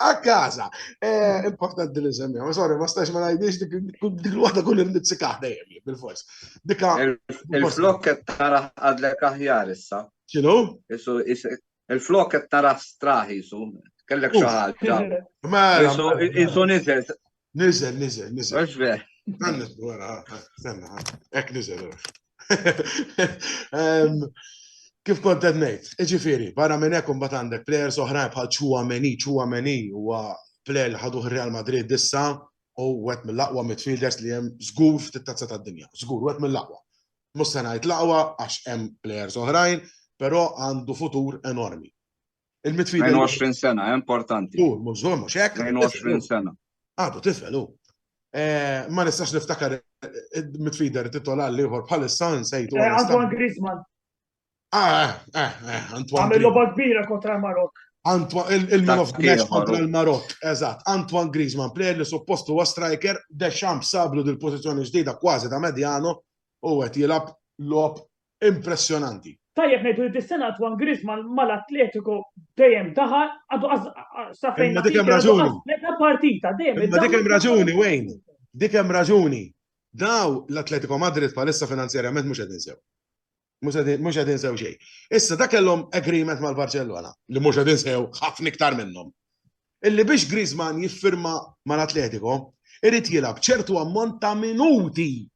A kaza. Eh, importanti li semmi. Ma sorry, ma stax ma najdix dik il-wahda kull il-nizzikaħ dajem, bil-fors. Dika. Il-flok qed tara għadlek aħjar issa. Xinu? Il-flok qed tara straħi su. Kellek xi ħaġa. Mela, mela. Isu nizel. Nizel, nizel, nizel. Mux ver. Għannet, għara, għanna, ek nizel, Kif kont qed ngħid, iġifieri, barra minn hekk imbagħad għandek plejers oħrajn bħal Chouameni, Chouameni huwa plejer li ħaduh Real Madrid issa u wet mill-aqwa midfielders li hemm żgur ftit tazza tad-dinja, żgur wet mill-aqwa. Mhux se ngħid l-aqwa għax hemm plejers oħrajn, però għandu futur enormi. Il-mitfida. 22 sena, eh, importanti. U, mhux żgur mhux hekk. 22 sena. Għadu tifel u. Eh, ma nistax niftakar il-mitfider titola li jħor bħalissa nsejtu. Eh, Antoine Griezmann. Ah, eh, eh, Antoine. Għamil loba kbira kontra l-Marok. Il-man of the match kontra l-Marok, eżat. Antoine Griezmann, player li suppostu huwa striker, Deschamps sablu dil-pozizjoni ġdida kważi ta' medjano, u għet jilab lob impressjonanti. Tajjeb ngħidu li dis-sena Antoine Griezmann mal-Atletico dejjem daħal għadu sa fejn. Ma dik hemm raġuni. Meta partita dejjem. Ma dik hemm raġuni Wayne. Dik hemm raġuni. Daw l-Atletico Madrid palissa finanzjarjament mhux qed insew. Mhux qed insew xejn. Issa dak kellhom agreement mal-Barcellona li mhux qed insew ħafna iktar minnhom. Illi biex Griezmann jiffirma mal-Atletico, irid jilgħab ċertu ammont ta' minuti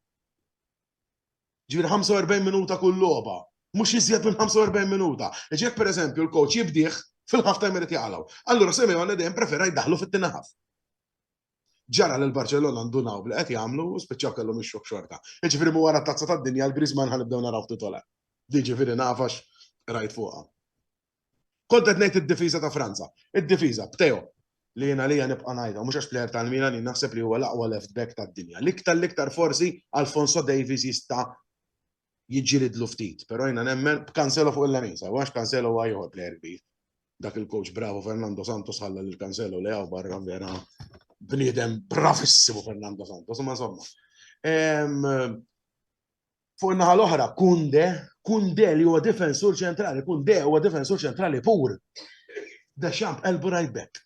Ġifieri 45 minuta kull logħba. Mhux iżjed minn 45 minuta. Għax jekk pereżempju l-coach jibdih, fil-half time irid jaqalgħu. Allura Simeone dejjem prefera jdaħħlu fit-tieni half. Ġara li l-Barċellona ndunaw b'li qed jagħmlu u spiċċaw kellhom ix-xokk xorta. Jiġifieri mhu wara t-Tazza tad-Dinja l-Griezmann ħa nibdew naraw ftit ola. Jiġifieri naf għax qrajt fuqha. Kont qed ngħid id-difiża ta' Franza. Id-difiża, b'Teo, li jien għalija nibqa' ngħidha, mhux għax plejer tal-Milan, jien naħseb li huwa l-aqwa left back tad-dinja. L-iktar l-iktar forsi Alphonso Davies jista' jiġġilidlu ftit, però jiena nemmen b'Cancelo fuq il-lemin, sew għax Cancelo huwa ieħor plejer kbir. Dak il-coach bravo Fernando Santos ħalla lil Cancelo li hawn barra vera bniedem bravissimu Fernando Santos, imma insomma. Ehm, Fuq in-naħa l-oħra, Kunde, Kunde li huwa difensur ċentrali, Kunde huwa difensur ċentrali pur. Deschamps elbu right back.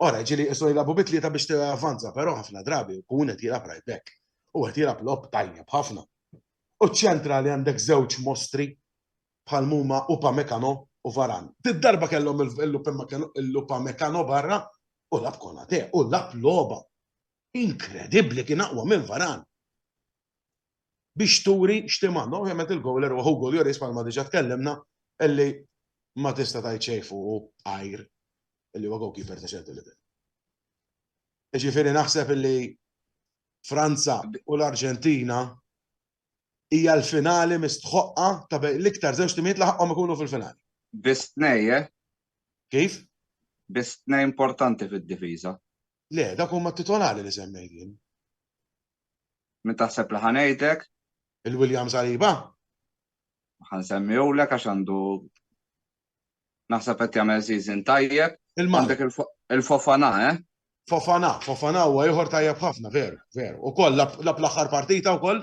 Ora, ġili jisu jilabu bitli ta' biex t-avanza, pero ħafna drabi, kun qed jilab right back. U qed jilab lob tajjeb ħafna. U ċentra li għandek żewġ mostri bħal muma u pamekano u varan. Tid-darba kellhom il-lupa mekano barra u lab konate u lab loba. Inkredibli kien aqwa minn varan. biex turi x'tim għandhom. Ovvjament il-gowler huwa Hugo Lloris bħalma diġà tkellimna illi ma tista' tgħid xejn fuqu għajr illi huwa goalkeeper ta' ċertu livell. Ġifieri naħseb illi Franza u l-Arġentina hija l-finali mistħoqqa ta' bejn l-iktar żewġ timijiet laħqhom ikunu fil-finali. Biss tnej, eh? Kif? Biss tnej importanti fid-difiża. Le, dak huma titolari li semmejt jien. Min taħseb li ħa ngħidlek? Il-William Saliba? Ħa nsemmihulek għax għandu naħseb qed jagħmel season tajjeb. Il-Mandek il-Fofana, eh? Fofana, Fofana huwa ieħor tajjeb ħafna, veru, veru. Ukoll lab l-aħħar partita wkoll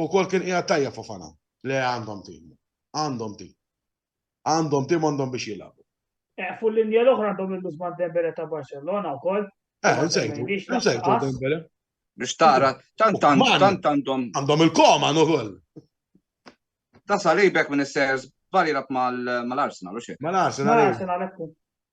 ukoll kien qiegħed tajjeb Fofana. Le għandhom tim. Għandhom tim. Għandhom tim għandhom biex jilagħbu. Eh, fu l-linja l-oħra għandhom il-Usman Dembele ta' Barcelona u koll. Eh, nsejtu, nsejtu Dembele. Biex tara, tant għandhom. Għandhom il-koma u koll. Ta' salibek minn s-sers, bari rab mal-Arsenal, u xie? Mal-Arsenal. Mal-Arsenal, ekku.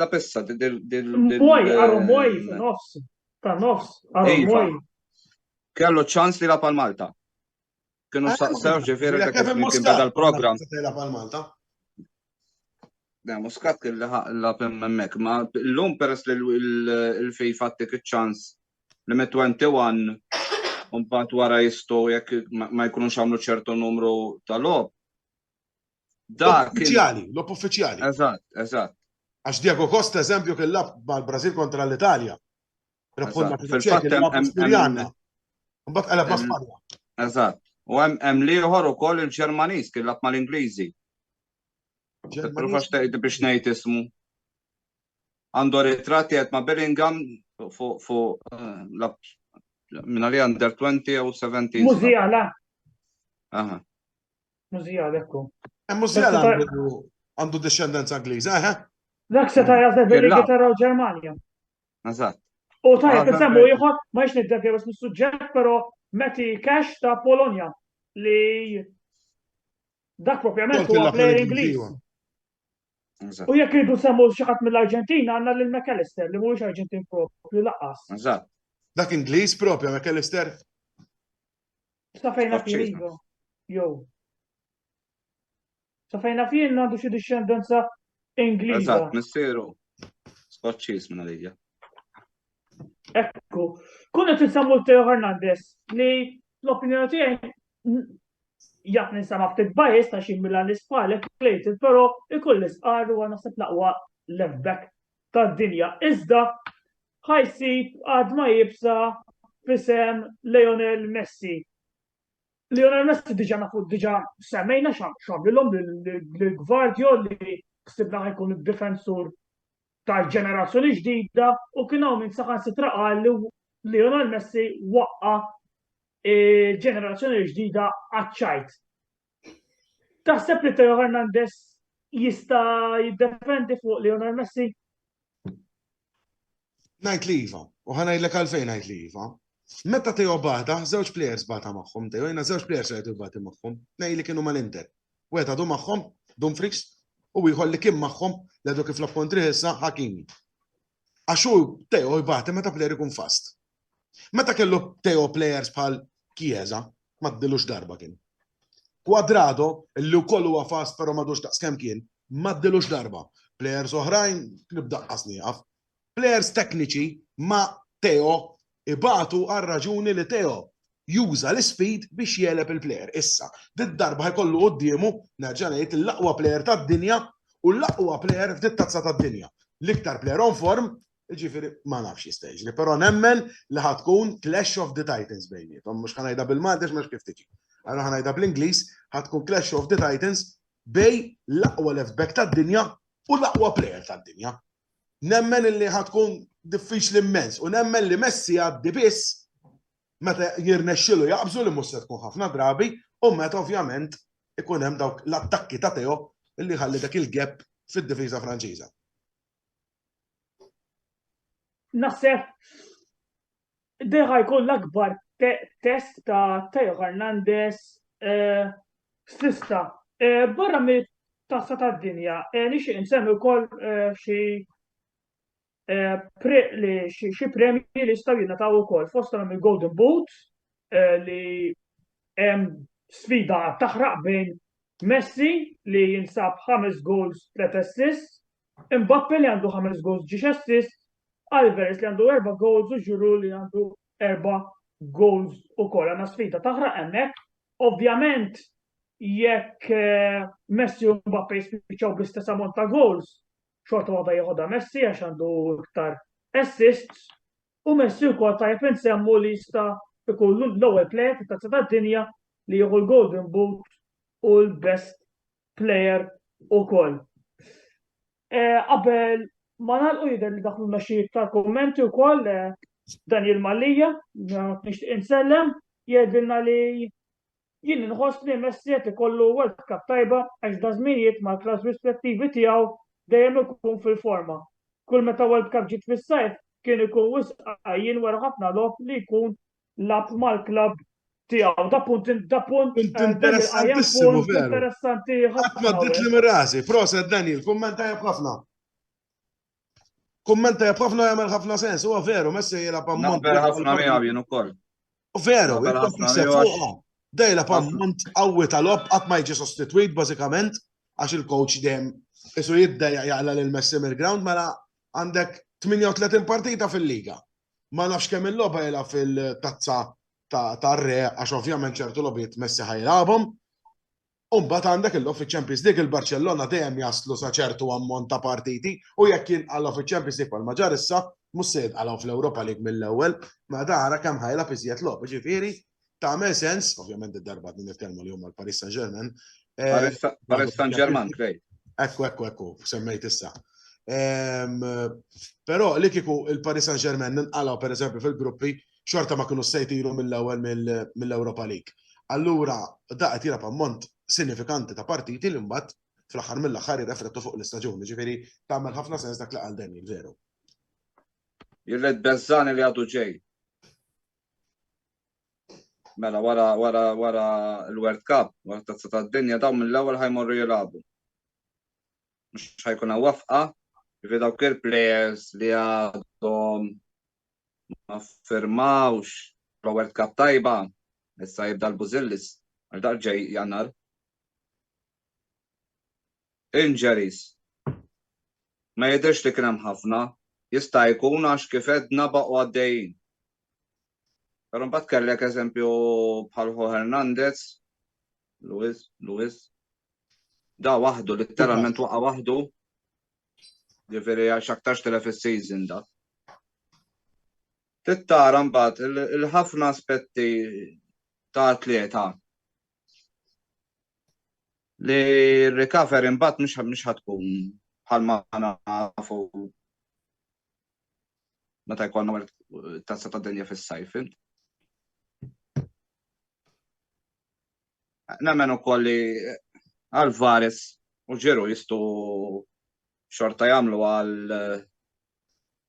La pessa del... Moj, għaru moj, nofs, ta' nofs, għaru iva. moj. Kellu ċans li la pal Malta. Kienu ah, saqsaw ġifiri ta' kif kien beda l-program. La pal Malta. Da, muskat kelli la pemmemmek, ma l-lum peress li l-fej fattik ċans li me 21 un bat wara jistu jek ma jkunux għamlu ċertu numru tal-lob Dak. Uffiċjali, lob uffiċjali. Eżatt, eżatt. Għax Diego Costa, eżempju, kien lab mal-Brażil kontra l-Italja. Rebħulna fil-Ċekja. Mbagħad qalab ma' Spanja. Eżatt. U hemm liħor ukoll il-Ġermaniż kien lab mal-Ingliżi. Profax tgħid biex ngħid ismu. Għandu ritratti qed ma' Bellingham fuq eh, lab minn li under 20 u 17. Mużija la. Aha. Mużijal, ekku. Eh, Mużijal għandu discendenza Ingliża, eħe? Eh? Dak se tajja se fil-Ingilterra u Ġermanja. Eżatt. U tajja fil-semmu ieħor ma jiex niddevja biex mis-suġġett, però meti cash ta' Polonja li dak propjament huwa player Ingliż. Iva. U jekk irridu semmu xi ħadd mill-Arġentina għandna lil McAllister li mhuwiex Arġentin propju laqas. Eżatt. Dak Ingliż propju McAllister? Safejna f'Irigo, jew. Safejna f'jien għandu xi dixxendenza Ingliża. Eżatt, missieru. Skoċċiż minn għalija. Ekku. Kun qed insemmu Teo Hernandez li l-opinjoni tiegħi jaf ninsama ftit bajis ta' xi mila l-ispalek plejted, però ikull l-isqar huwa naħseb laqwa left back tad-dinja. Iżda ħa jsib għadma iebsa f'isem Lionel Messi. Lionel Messi diġa nafu diġa semmejna xamlilhom l-Gvardio li ksibna ħajkun id-difensur tal-ġenerazzjoni ġdida u kien hawn minn saħan sitra qal li Lionel Messi waqqa ġenerazzjoni ġdida għaċċajt. Taħseb li Teo Hernandez jista jiddefendi fuq Lionel Messi? Najt li jiva, u ħanajdlek għalfejn najt li jiva. Meta Teo bata, żewġ plejers bata magħhom, Teo jina żewġ plejers rajtu bati magħhom, nej li kienu mal-Inter. Wieħed għadu magħhom, Dumfries, u ieħor li kien magħhom li għadu kif l-appontri issa Hakimi. Għaxu Teo jbati meta plejer ikun fast. Meta kellu Teo players bħal Chiesa, ma ddilux darba kien. Quadrado, illi wkoll huwa fast però madux daqs kemm kien, ma ddilux darba. Players oħrajn nibda qasnieqaf. Players tekniċi ma Teo ibatu għal raġuni li Teo juża l-speed biex jeleb il-player. Issa, dit darba jkollu qoddiemu nerġa' ngħid l-aqwa player tad-dinja u l-aqwa player f'dit tazza tad-dinja. L-iktar player on form Jiġifieri ma nafx x'jista' jiġri, però nemmen li ħa tkun clash of the titans bejniethom, mhux ħa ngħidha bil-Malti għax ma nafx kif tiġi. Allura ħa ngħidha bl-Ingliż, ħa tkun clash of the titans bejn l-aqwa left back tad-dinja u l-aqwa player tad-dinja. Nemmen illi ħa tkun diffiċli mmens u nemmen li Messi jgħaddi biss meta jirnexxilu jaqbżu li mhux se tkun ħafna drabi u meta ovvjament ikun hemm dawk l-attakki ta' Theo illi jħalli dak il-gap fid-difiża Franċiża. Naħseb deħa jkun l-akbar test ta' Teo Hernandez eh, stista. Eh, barra mit tassa ta' dinja, eh, nixi insemmi wkoll xi xi premji li staw jingħataw ukoll fost għandhom il-Golden Boot li hemm sfida taħraq bejn Messi li jinsab ħames goals tlet assists Mbappe li għandu ħames goals ġiex assist, Alvarez li għandu erba' goals u Giroud li għandu erba' goals ukoll. Għandna sfida taħraq hemmhekk. Ovvjament jekk Messi u Mbappe jispiċċaw bl-istess ammont ta' goals, xorta waħda jieħodha Messi għax għandu iktar assists u Messi wkoll tajjeb insemmu li jista' jkun l-ewwel player fit-Tazza tad-Dinja li jieħu l-Golden Boot u l-Best player ukoll. Eh, qabel ma nagħlqu jidher li dak l-mexxi iktar kummenti wkoll eh, Daniel Mallija, nixtieq insellem, jgħidilna li jien inħoss li Messi qed ikollu World Cup tajba għax da żminijiet ma' klass rispettivi tiegħu dejjem ikun fil-forma. Kull meta World Cup ġiet fis-sajf kien ikun wisqajjin wara ħafna lob li jkun lab mal-klabb tiegħu. Da punt da punt eh, interessantissimu veru. Interessanti ħafna. Ma bdiet li mirasi, proset Daniel, kummenta jab ħafna. Kummenta jab ħafna jagħmel ħafna sens, huwa veru, messi jela pammont. Vera ħafna miegħu jien ukoll. Veru, dejla pammont qawwi tal-ob qatt ma jiġi sostitwit bażikament għax il-coach dejjem isu jidda jaqla lil Messi mill-ground mela għandek 38 partita fil-liga. ma nafx kemm il-logħba jilgħab fil-tazza tar-re għax ovvjament ċertu logħbiet Messi ħajlabhom. U mbagħad għandek il-logħob fiċ-Champions League il-Barċellona dejjem jaslu sa ċertu ammont ta' partiti u jekk jinqalgħu fiċ-Champions League bħalma ġar issa mhux se jinqalgħu fl-Ewropa League mill-ewwel, ma dara kemm ħajlab iżjed logħob, ġifieri tagħmel sens, ovvjament id-darba din il-kelma li huma l-Paris Saint-Germain. Eh, Paris Saint-Germain, krej. Ekku, ekku, ekku, semmejt issa. Ehm, però li kiku il-Paris Saint-Germain ninqalaw per eżempju fil-gruppi xorta ma kienu sejtilu mill-ewwel mill-Europa League. Allura da qed jilgħab ammont sinifikanti ta' partiti li mbagħad fl-aħħar mill-aħħar jirreflettu fuq l-istaġun, ġifieri tagħmel ħafna sens dak li għal Daniel veru. Jirred Bezzani li għadu ġej. Mela wara wara wara l-World Cup, wara t-Tazza tad-Dinja dawn mill-ewwel ħajmorru jilagħbu. Mhux ħajkun hawn wafqa, jiġifieri dawk il-players li għadhom ma firmawx pro World Cup tajba, issa jibda l-Bużillis għal dak ġej Jannar. Injuries, Ma jidhirx li kien hemm ħafna, jista' jkun għax kif għedna baqgħu għaddejjin. Però mbagħad kellek eżempju bħal Ho Hernandez, Luis, Luis, da waħdu litteralment waqa' waħdu. Ġifieri għax aktarx telef is-season da. Tittara mbagħad il-ħafna aspetti ta' atleta li recovery mbagħad mhux mhux ħatkun bħalma nafu meta jkollna wara tazza ta' dinja fis-sajf. Nemmen ukoll li Alvarez u ġeru jistu xorta jagħmlu għal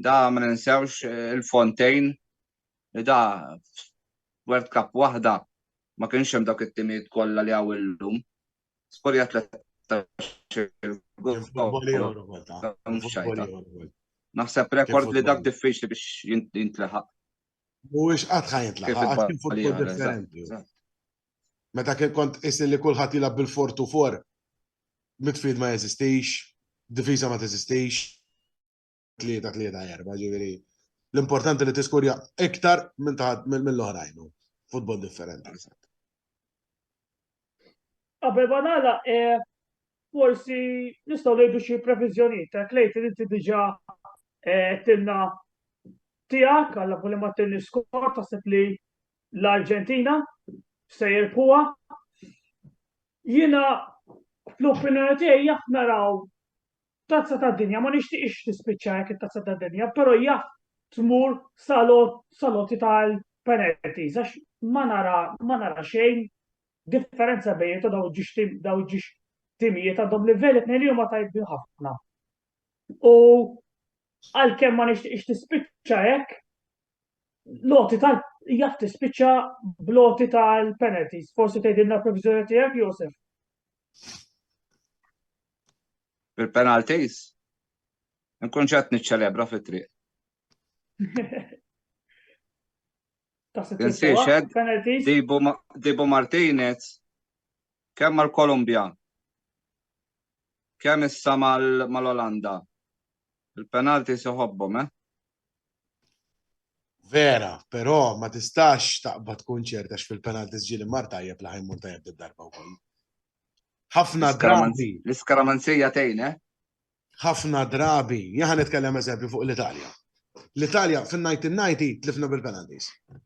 Da ma ninsewx il-Fontejn li da World Cup waħda ma kienx hemm dawk it-timijiet kollha li hawn illum. Skorja Naħseb rekord li dak diffiċli biex jintlaħaq. Mhuwiex qatt ħa jintlaħaq, kien futbol differenti. Meta kien kont is li kulħadd jilgħab bil-fortu for, midfield ma jeżistix, difiża ma teżistix, tlieta tlieta erba, ġifieri l-importanti li tiskurja iktar minn taħt mill-oħrajn futbol differenti. Qabel ma nagħlaq eh, forsi nistgħu ngħidu xi previżjonijiet ta' klejt li inti diġà eh, tilna tiegħek għal li ma tilni skor taħseb li l-Arġentina se jirpuha. Jiena fl-opinjoni tiegħi jaf naraw Tazza tad-Dinja ma nixtieqx tispiċċa hekk it-Tazza tad-Dinja, però jaf tmur sal-għoti tal-penalties għax ma nara ma nara xejn differenza bejniethom dawn il-ġiex dawn il-ġiex timijiet għandhom livell it-tnejn li huma tajbin ħafna. U għalkemm ma nixtieqx tispiċċa hekk, l-għoti tal jaf tispiċċa bl-għoti tal-penalties. Forsi tgħidilna l-previżjoni tiegħek, Josef? Bil-penalties? Nkun ġat niċċelebra fit-triq. Tinsiex, Dibu Martinez kemm mal-Kolumbja, kemm issa mal-Olanda. Il-penalti seħobbhom, eh? Vera, però ma tistax taqbad tkun ċerta fil-penaltis ġieli mar tajjeb li ħajmur tajjeb d-darba wkoll. Ħafna drabi. L-iskaramanzija tgħin, eh? Ħafna drabi. Jaħan nitkellem eżempju fuq l-Italja. L-Italja fin-1990 tlifna bil-penaltis.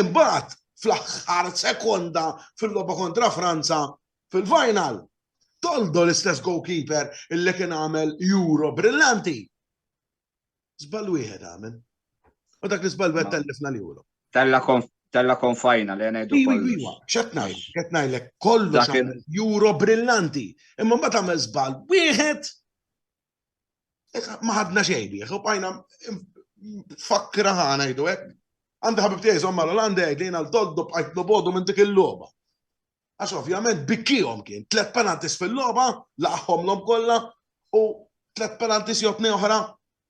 Imbagħad fl-aħħar sekonda fil-logħba kontra Franza fil-final, Toldo l-istess goalkeeper illi kien għamel Euro brillanti. Żball wieħed għamel. U dak li żball wieħed tellifna l-Euro. Tella tella konfajna li għanajdu. Iwa, iwa, xetnaj, xetnaj le kollu juro brillanti. Imma ma tamel zbal, wieħed Ma ħadna xejn bih, u bajna fakkra ħana jdu hekk. Għandi ħabib tiegħi żomm mal-Olanda jgħid li jiena l-toddu bqajt nobodu minn dik il-logħba. Għax ovvjament bikkihom kien, tlet penaltis fil-logħba, laqħomlhom kollha u tlet penaltis jotni oħra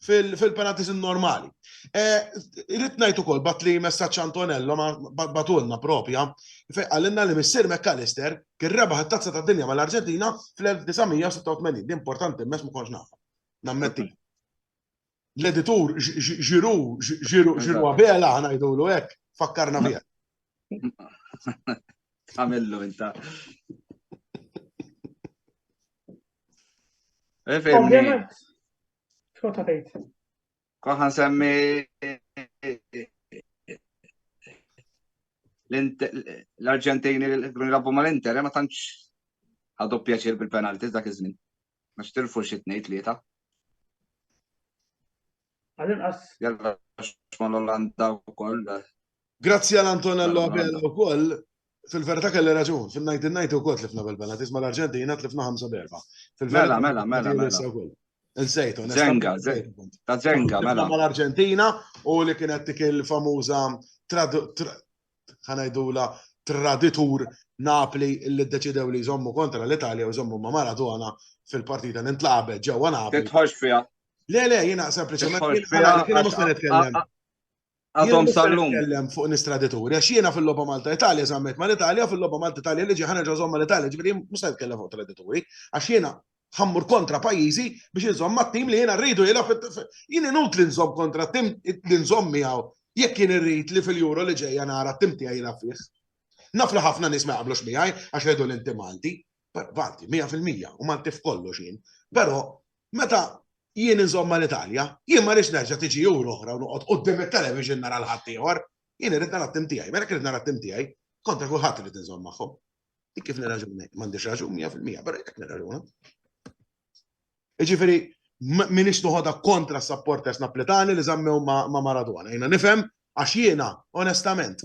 fil-penaltis normali. Eh, Rrit najt ukoll bat li messaċ Antonello batulna propja, għalinna li missir McAllister kien rebaħ it-Tazza tad-Dinja mal-Arġentina fl-1986. Di importanti mess ma kontx naf. Nammetti. L-editur ġiru, ġiru, ġiru għabela ħanajdulu hekk, fakkarna bija. Għamillu inta. Ovvjament. Xkota tgħid? Konħa nsemmi l-Arġentini li kienu jilagħbu mal-Inter, eh, ma tantx ħadu pjaċir bil-penalti dak iż-żmien. Ma xtirfu xi tnejn tlieta. Għal-inqas. Jalla xmon l-Olanda wkoll. Eh. Grazzi għal Antonello Abela u koll, fil-verta kelli raġun, fil-1990 u koll tlifna bil-penalties ma l-Arġentina tlifna 5 berba. Mela, mela, mela, mela. Nsejtu, Zenga, ta' Zenga, mela. Ma l-Arġentina u li kienet dik il-famuża ħanajdula traditur Napli li ddeċidew li jżommu kontra l-Italja u jżommu ma' Maradona fil-partita li ntlaqabet ġewwa Napli. Titħoġ fija. Le, le, jina sempliċement. Jina mux nitkellem. Għadhom sal-lum. Kellem fuq nistradituri, għax jiena fil-loba Malta Italja zammet ma l-Italja, fil-loba Malta Italja li ġiħana ġazom ma l-Italja, ġviri musta jitkellem fuq tradituri, għax jiena ħammur kontra pajizi biex nżomm ma tim li jiena rridu jela jien inut li nżomm kontra tim li nżomm miegħu jekk jien irrid li fil-juro li ġejja nara tim tiegħi jela fih. Naf li ħafna nies ma jaqblux miegħi għax jgħidu l-inti Malti, Vanti, 100% u Malti f'kollox jien. Però meta jien insomma l-Italja, jien ma rix nerġa' tiġi jur oħra u noqgħod qudiem it-television nara l-ħadd ieħor. Jien irid nara t-tim tiegħi, mela kif nara t-tim tiegħi, kontra kulħadd irid inżomm magħhom. Dik kif nirraġuni, m'għandix raġun 100%, però jekk nirraġuna. Jiġifieri minix noħodha kontra s-supporters Napletani li żammew ma' Maradona. Jiena nifhem għax jiena onestament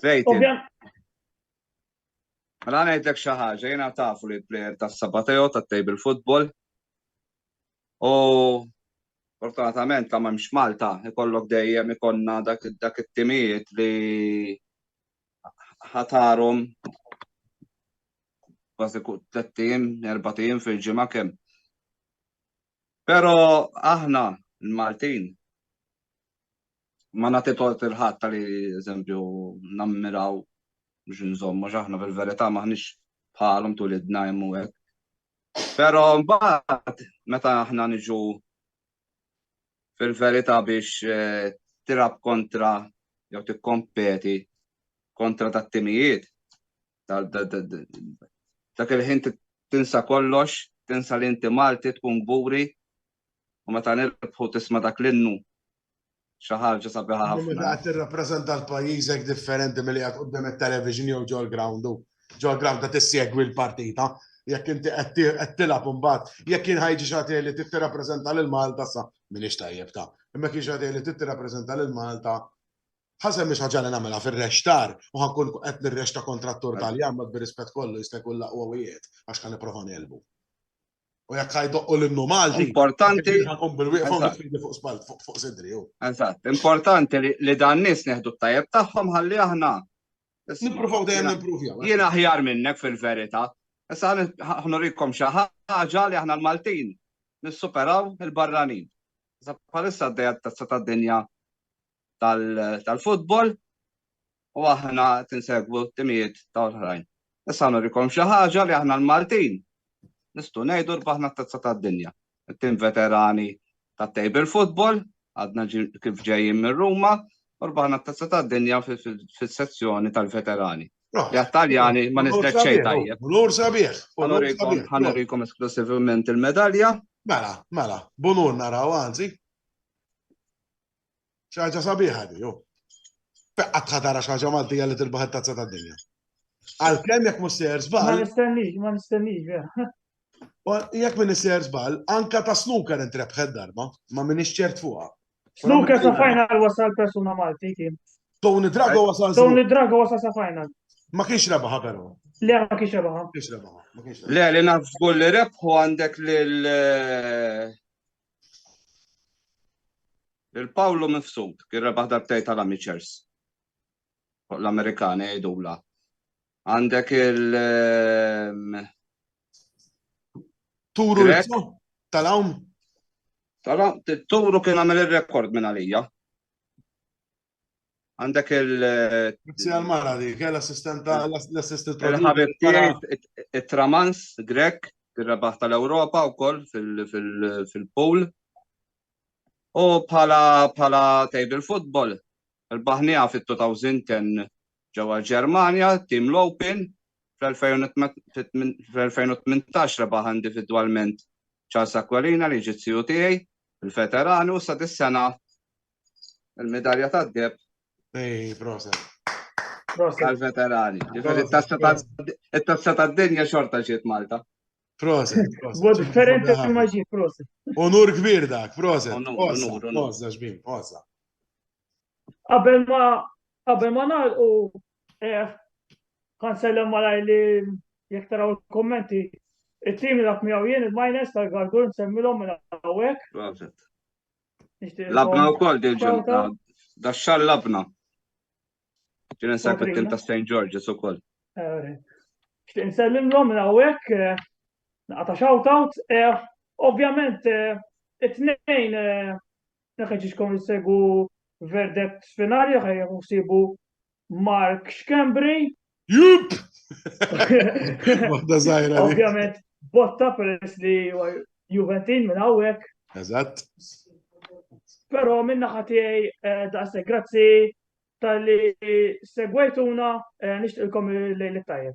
Clayton. Mela ngħidlek xi ħaġa, jiena tafu li l-plejer tas-Sabateo tat-table football. U fortunatament ta' m'hemmx Malta, ikollok dejjem ikonna dak dak it-timijiet li ħatarhom kważi tlettin, erbatin fil-ġimgħa kemm. Pero aħna, l-Maltin, ma nagħti tort il-ħadd li eżempju nammiraw biex nżommu aħna fil-verità maħniex bħalhom tul id-dna jemmu hekk. Però mbagħad meta aħna niġu fil-verità biex eh, tirab kontra jew tikkompeti kontra tat-timijiet, dak il-ħin tinsa kollox, tinsa li inti Malti tkun gburi u meta nirbħu tisma' dak l-innu xi ħaġa sabiħa ħafna. Meta qed tirrappreżenta l-pajjiżek differenti milli qed quddiem it-television jew ġol ground ġol ground ta' tissegwi l-partita jekk inti qed tilgħab imbagħad jekk jien ħajġi xagħti li trid tirrappreżenta lil Malta sa m'iniex tajjeb ta' imma kien xagħti li trid tirrappreżenta lil Malta Ħasem mhix ħaġa li nagħmilha fir-rexxtar u ħa nkun qed nirrexxta kontra t-tur Taljan ma bir-rispett kollu jista' jkun l-aqwa wieħed għax ħa nipprova ngħelbu. U jekk ħa jdoqqu l-innu Malti. Importanti. Ħankun bil-wieqfa nifidi fuq spall fuq sidri hu. Eżatt, importanti li dan nies neħdu t-tajjeb tagħhom ħalli aħna. Nippruvaw dejjem nimprovjaw. Jien aħjar minnek fil-verità. Issa ħnurikom xi ħaġa li aħna l-Maltin nissuperaw il-barranin. Issa bħalissa d-dejja tazza tad-dinja tal-futbol u aħna tinsegwu t-timijiet ta' oħrajn. Issa nurikom xi ħaġa li aħna l-Maltin nistgħu ngħidu rbaħna t-tazza tad-dinja. Tim veterani tat table football, għadna kif ġejjin minn Ruma, u rbaħna t-tazza tad-dinja fis-sezzjoni tal-veterani. L-Italjani ma nistek xejn tajjeb. Unur sabiħ. Ħanurikom esklusivament il-medalja. Mela, mela, bunur naraw għanzi. Xi ħaġa sabiħa di, oh. Fekka tħadara xi ħaġa Maltija li tilbaħ it-tazza tad-dinja. Għalkemm jekk mhux sejjer żball. Ma nistennix, ma nistennix, vera. Jekk minn isser żball, anka ta' snooker intrebħed darba, ma minn ċert fuqha. Snooker sa final wasal persuna Malti kien. Tony Drago wasal. Tony Drago wasal sa final. Ma kienx rebaħa però. Le, ma kienx rebaħa. Kienx rebaħa. Le, li naf żgur li rebħu għandek lil eh, Il-Pawlu mifsud kien rebaħ darbtej tal-Amichers. Fuq l-Amerikani jgħidula. Għandek il- ehm, Turu tal-għawm? Tara, Turu kien għamel il-rekord minn għalija. Għandek il- Grazzi għal-mara di, kell assistent l-assistent Il-ħabib tiegħi it-Tramans Grek, ir-rebaħ tal-Ewropa wkoll fil-pool. U bħala bħala table football, il-baħnija fit-2010 ġewwa Ġermanja, tim l-Open, fl-2018 rebaħ individwalment Charles Aquilina li ġiet tiegħi, il-veteranu sa dis-sena Il-medalja ta' deb. Ej, proset. Tal-veterani. Il-tazza ta' dinja xorta ġiet Malta. Proset, proset. Bo differenti ma maġi, proset. Onur kbir dak, proset. Onur, onur. Oza, ġbim, oza. Qabel ma, qabel ma nalqu, eh, kan sellem malaj li jek taraw il-kommenti, il-tim li dak miegħu jien il-minus tal-gargur nsemmilhom minn hawnhekk. Proset. Labna u koll dil-ġurnata. Da xar labna. Ġin nsab it-tim ta' St. George's u koll. Xtiq nsellimlom minn hawnhekk eh, naqta' shout-out. Eh, ovvjament, eh, it-tnejn neħeġiġkom jissegu verdet finali, ħajja sibu Mark Schembri. Jup! Waħda zaħira. Ovvjament, botta peress li Juventin minn għawek. Eżatt. Pero minna ħatijaj eh, daqse grazzi tal-li segwajtuna eh, nishtilkom l-lejl tajjeb.